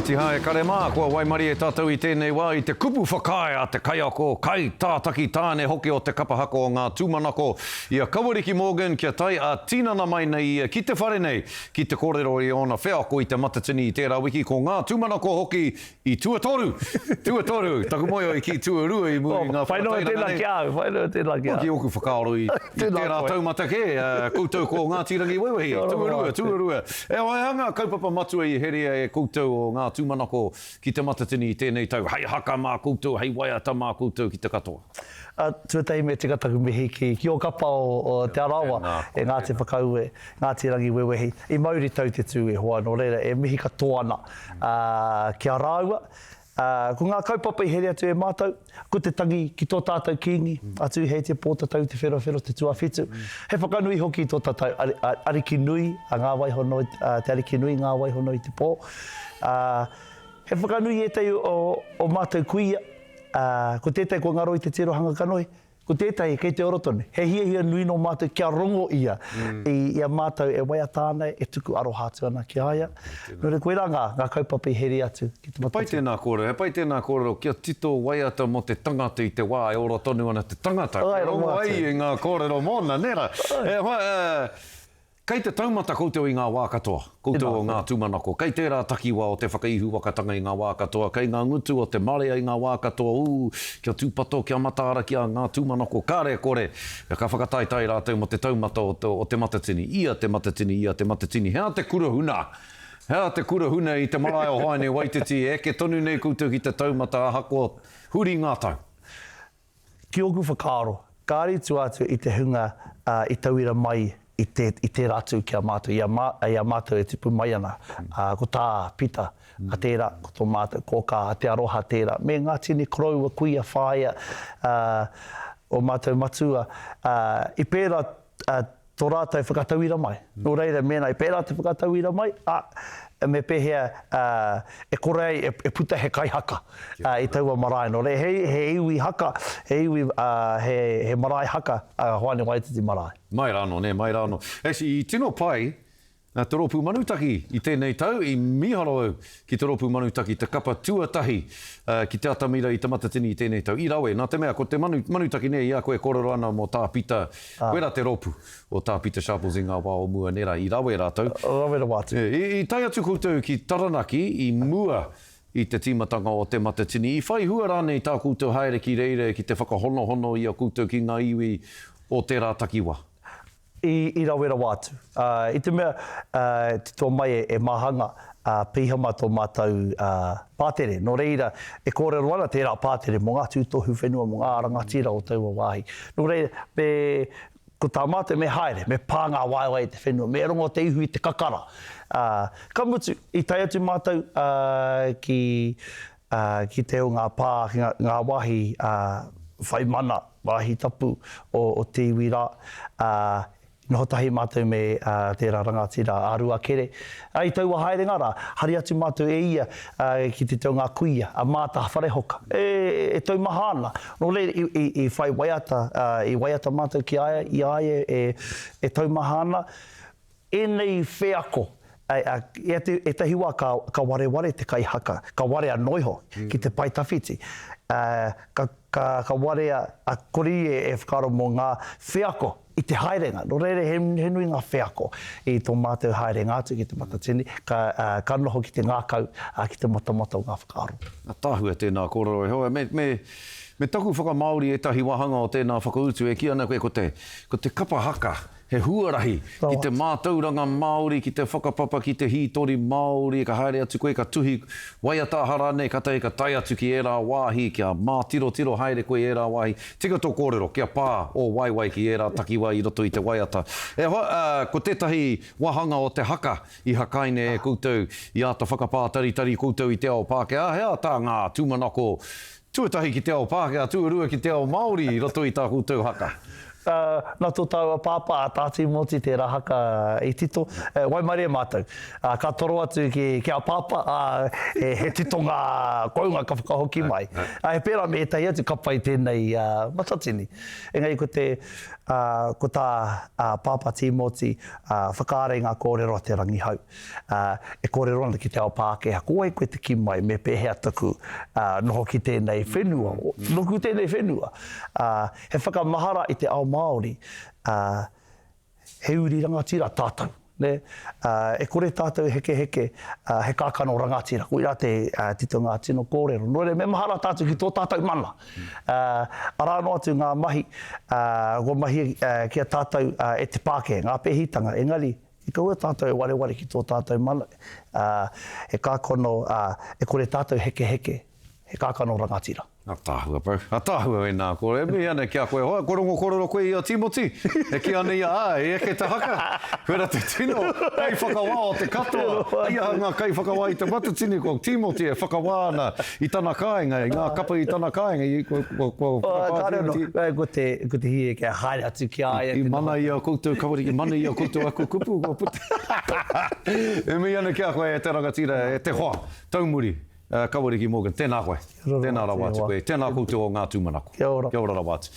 Tiha e kare mā, kua waimarie tātou i tēnei wā i te kupu whakaae a te kaiako, kai, tātaki, tāne hoki o te kapa haka o ngā tūmanako, i a Kawariki Morgan kia tae ā tinana mai nei ia ki te whare nei ki te kōrero i ōna wheako i te matatini i tērā wiki ko ngā tūmanako hoki i tuatoru, tuatoru, taku moe oi ki tuarua i muri i ngā whakatairanga nei. Whainui tēnā ki a au, whainui tēnā ki a au. Ki ōku whakaaro i tērā taumata kē, koutou ko Ngāti Rangiwewehi, tuarua, tuarua. Heoi a ngā kaupapa matua i herea e koutou o ngā tūmanako ki Te Matatini i tēnei tau, hei haka mā koutou, hei waiata mā koutou ki te katoa. A, tuatahi me tika taku mihi ki ki o kapa o o Te Arawa e Ngāti Whakaue, Ngāti Rangiwewehi, i mauri tau te tū e hoa, nō reira e mihi katoa ana a, ki a rāua, Ā, ko ngā kaupapa i here atu e Mātou, ko te tangi ki tō tātou Kīngi, a Tūheitia Pōtatau Te Wheroawhero Te Tuawhitu, he whakanui hoki i tō tātou Ariki nui, a Ngā Waihono, te Ariki nui Ngā Waihono i te Pō. Ā, he whakanui i ētahi o Mātou kuia, ā, ko tētahi kua ngaro i te tirohanga kanohi, Ko tētahi, kei te ora tonu. He hiahia nui nō mātou kia rongo ia i a mātou e waiata ana, e tuku aroha atu ana ki a ia. Nō reira, koirā ngā, ngā kaupapa i heria atu ki te matatu. He pai tēnā kōrero, he pai tēnā kōrero kia tito waiata mō te tangata i te wā e ora tonu ana te tangata, kia rongo ai i ngā kōrero mōna, nē rā? He, he, he. Kei te taumata koutou i ngā wā katoa, koutou o ngā tūmanako, kei tērā takiwā o te whakaihuwakatanga i ngā wā katoa, kei ngā ngutu o te marea i ngā wā katoa, ū, kia tūpato, kia mataara ki a ngā tūmanako, kare kore, ka whakataetae rātou mō te taumata o te Matatini, ia te Matatini, ia te Matatini, he aha te kura huna? He aha te kura huna i te marae o Haenewaititi, e eke tonu nei koutou ki te taumata ahakoa huri ngā tau? Ki ōku whakaaro, kāre i tua atu i te hunga i tauira mai i tērā atu ki a mātou, i a mātou e tipu mai ana, ko tā Pita, a tērā, ko tō mātou, ko kā Te Aroha tērā, me ngā tini koroua, kuia, whāea o mātou matua, i pērā a, tō rātou whakatauira mai. Nō reira, mēnā i pērā te whakatauira mai, a, me pēhea, a, e kore ai e, e puta he kaihaka, a, i taua marae. Nō reira, he, he iwi haka, he iwi, a, he, he marae haka a Hoani Waititi marae. Mai rānō, nē, mai rānō. Actually, i tino pai, Te Rōpū Manutaki I tēnei tau i mīharo au ki Te Rōpū Manutaki te kapa tuatahi ki te atamira i Te Matatini i tēnei tau. I rawe, nā te mea ko te manu, manutaki nē, i a koe e kōrero ana mō Tā Pita, koe rā te rōpū o Tā Pita Sharples i ngā wā o mua nē rā. I rawe rātou. Rawe rawa atu. I tae atu koutou ki Taranaki i mua i te tīmatanga o Te Matatini, i whai hua rānei tā koutou haere ki reira ki te whakahonohono i a koutou ki ngā iwi o tērā takiwā? i rawerawa atu, ā, i te mea, ā, e titoa mai e, e Mahanga, ā, Pihama tō mātou, ā, pātere. Nō reira, e kōrero ana tērā pātere mō ngā tūtohu whenua, mō ngā rangatira o taua wāhi. Nō reira, me, ko tā mātou, me haere, me pā ngā waewae i te whenua, me rongo te ihu i te kakara. Ā, ka mutu, i tae atu mātou, ā, ki, Ā, ki te o ngā pā, ngā wāhi whai mana, wāhi tapu o te iwi rā, ā, i noho tahi mātou me tērā rangatira a Ruakere. Ā, i taua haerenga rā, hari atu mātou e ia ki te o ngā kuia, a Maata Wharehoka, e taumaha ana. Nō reira, i whai waiata, i waiata mātou ki a ia, i a ia e taumaha ana. Ēnei wheako, ētahi wā ka wareware te kai haka, ka warea noa iho ki te pae tawhiti. Ka warea, a kore ia e whakaaro mō ngā wheako i te haerenga. Nō reira, he nui ngā wheako i tō mātou haerenga atu ki Te Matatini, ka noho ki te ngākau, ki te matamata o ngā whakaaro. Ātaahua, tēnā kōrero e hoa. Me taku whakamāori ētahi wāhanga o tēnā whakautu e kī ana koe ko te kapa haka. He huarahi ki te mātauranga Māori, ki te whakapapa, ki te hītori Māori, ka haere atu koe, ka tuhi waiata aha rānei, kātahi ka tae atu ki ērā wāhi, kia mātirotiro haere koe i ērā wāhi. Tika tō kōrero, kia pā ō waewae ki ērā takiwā i roto i te waiata. E hoa, ā, ko tētahi wāhanga o te haka i hakaina e koutou, i āta whakapātaritari koutou i te ao Pākehā, he aha tā ngā tūmanako Tuatahi ki te ao Pākehā, tuarua ki te ao Māori i roto i tā koutou haka. Nā tō tāua pāpā a Tā Tīmoti tērā haka i tito, e waimarie mātou. Ka toro atu ki a Pāpā, ā, he tito ngā kounga ka whakahoki mai. He pērā me ētahi atu ka pai tēnei matatini. Engari ko te, ko tā Pāpā Tīmoti, whakaara i ngā kōrero a Te Rangihau. Ā, e kōrero ana ki te ao Pākehā, ko wai koe te kī mai me pēhea taku noho ki tēnei whenua, nōku tēnei whenua. Ā, he whakamahara i te ao Māori, ā, he uri rangatira tātou, nē? Ā, e kore tātou e hekeheke, ā, he kākano rangatira, koirā te tito ngā tino kōrero. Nō reira, me mahara tātou ki tō tātou mana. Ā, arā noa atu ngā mahi, ā, kua mahia ki a tātou e te Pākehā, ngā pēhitanga, engari, I kaua tātou e wareware ki tō tātou mana, ā, e kākano, ā, e kore tātou hekeheke, he kākano rangatira. Ataahua bro. Ataahua wena ko e mihi ana ki a koe hoa ko rongo korero koe i a Timoti e kī ana ia āe e eke te haka wera te tino kaiwhakawā o te katoa hei aha ngā kaiwhakawā i te Matatini ko Timoti e whakawā ana I tana kāinga, i ngā kapa i tana kāinga, i kua, kua, kua whakapātia. Kāre anō, kai ko te, ko te hīe kia haere atu ki a ia. I mana i a koutou, kāore i mana i a koutou aku kupu, kua puta. E mihi ana ki a koe e te rangatira, e te hoa, taumuri, Kaweriki Morgan, tēnā koe. Kia ora rawa. Tēnā rawa atu koe. Tēnā koutou o ngā tūmanako. Kia ora. Kia ora rawa atu.